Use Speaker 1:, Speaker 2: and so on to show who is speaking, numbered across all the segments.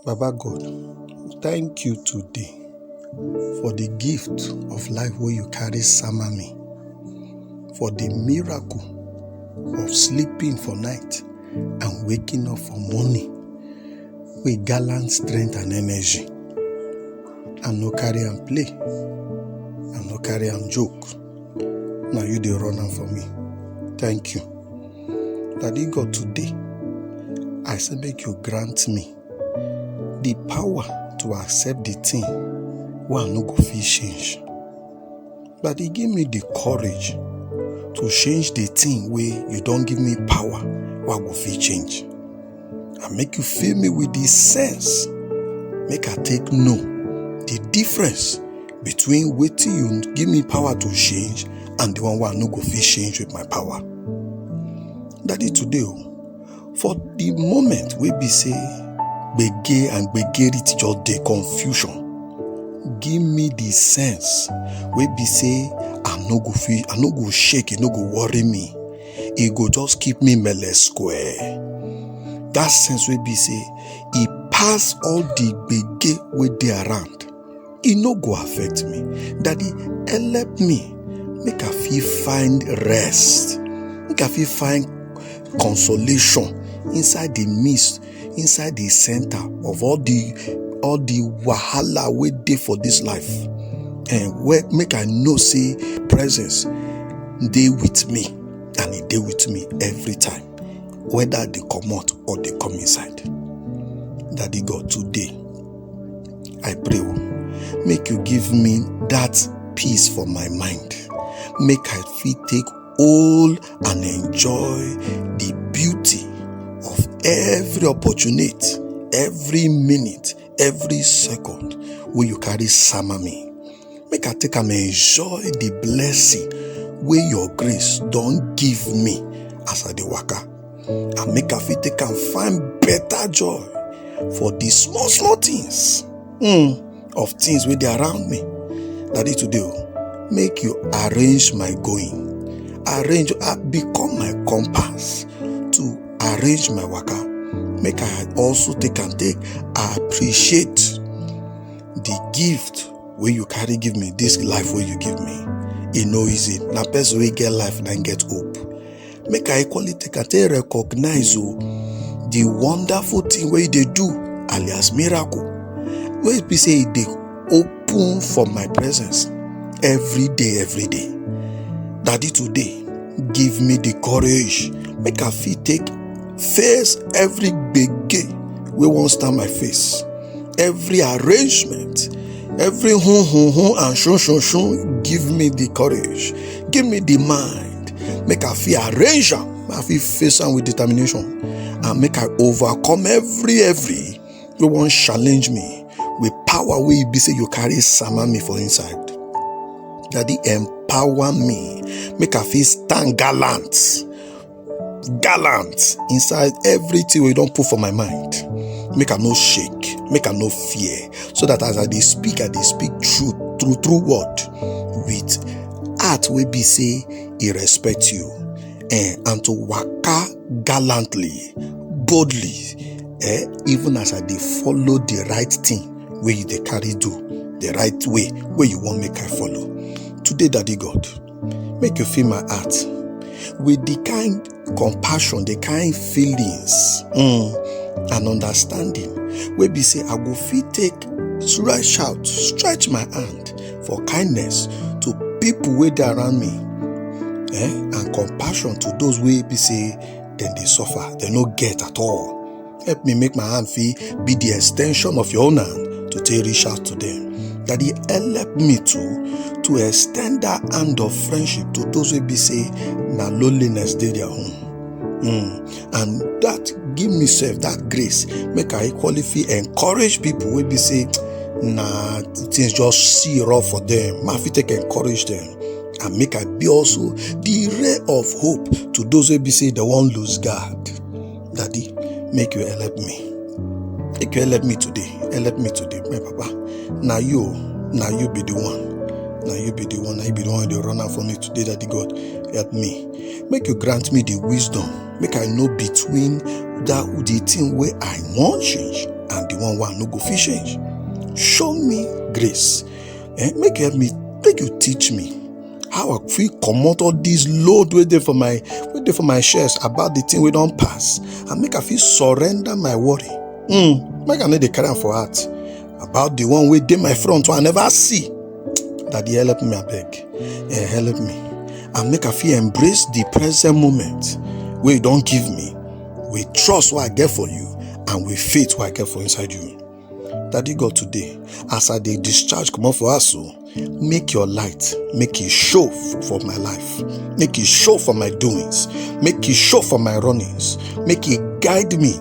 Speaker 1: Baba God, thank you today for the gift of life wey you carry sama me, for the miracle of sleeping for night and waking up for morning with gallant strength and energy. I no carry am play, I no carry am joke. Now you dey run am for me. Thank you. Daddy God, today I say make you grant me the power to accept the thing wey I no go fit change. Daddy give me the courage to change the thing wey you don give me power wey I go fit change. and make you fill me with the sense make i take know the difference between wetin you give me power to change and the one wey i no go fit change with my power daddy today o for the moment wey be say gbege and gbege reach just dey confusion give me the sense wey be say i no go fit i no go shake e no go worry me e go just keep me mele square that sense wey be say e pass all the gbege wey dey around e no go affect me daddy help me make i fit find rest make i fit find consolation inside the midst inside the center of all the all the wahala wey dey for this life and where make i know say presence dey with me and e dey with me every time whether i dey comot or dey come inside daddy god today i pray o make you give me that peace for my mind make i fit take All and enjoy the beauty of every opportunity, every minute, every second wey you carry sama me. Make I take am enjoy the blessing wey your grace don give me as I dey waka. And make I fit take am find better joy for the small small things. Mm. of things wey dey around me daddy today o make you arrange my going arrange ah, become my compass to arrange my waka make i also take am take appreciate the gift wey you carry give me this life wey you give me e no easy na person wey get life na im get hope make i equally take am take recognize o the wonderful thing wey you dey do alias miracle wey be say e dey open for my presence every day every day daddy today give me the courage make i fit take face every gbege wey wan stand my face every arrangement every hun hun hun and shun shun shun give me the courage give me the mind make i fit arrange am make i fit face am with determination and make i overcome every every wey wan challenge me with power wey e be say you carry sama me for inside daddy empower me make i fit stand gallant gallant inside everything wey you don put for my mind make i no shake make i no fear so that as i dey speak i dey speak truth true true word with heart wey be say e respect you eh, and to waka gallantly boldly eh, even as i dey follow the right thing wey you dey carry do the right way wey you wan make i follow today daddy god make you fill my heart with the kind compassion the kind feelings um and understanding wey be say i go fit take stretch out stretch my hand for kindness to people wey dey around me eh and compassion to those wey be say dem dey suffer dem no get at all Help me make my hand fee be the extension of your own hand to take reach out to them. Daddy, help me to to extend that hand of friendship to those who be say na loneliness dey their home. Mm. And that give me self that grace make I equally feel encourage people wey be say na things just see rough for them. Ma fit take encourage them. and make I be also the ray of hope to those who be say they won't lose God. Daddy, make you help me. Make you help me today. Help me today, my papa. Now you, now you be the one. Now you be the one. Now you be the one the runner for me today, Daddy God. Help me. Make you grant me the wisdom. Make I know between that the thing where I want change and the one where I no go fit change. Show me grace. Eh? Make you help me. Make you teach me. how i fit comot all this load wey dey for my wey dey for my chest about the thing wey don pass and make i fit surrender my worry mm, make i no dey carry am for heart about the one wey dey my front wey i never see daddy help me abeg eh, help me and make i fit embrace the present moment wey you don give me with trust wey i get for you and with faith wey i get for inside you Daddy God today, as I dey discharge comot for house o, make your light make e show f- for my life, make e show for my doings, make e show for my runnings, make e guide me.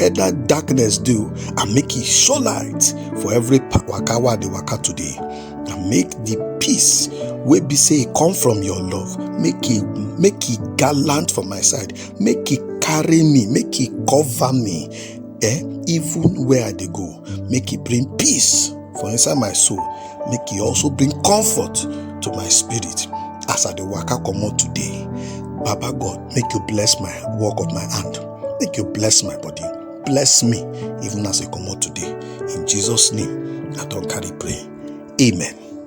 Speaker 1: Either darkness do and make e show light for every pa- waka wey I dey waka today. And make the peace wey be say e come from your love, make e make e gallant for my side, make e carry me, make e cover me. eh even where i dey go make e bring peace for inside my soul make e also bring comfort to my spirit as i dey waka comot today baba god make you bless my work of my hand make you bless my body bless me even as i comot today in jesus name i don carry pray amen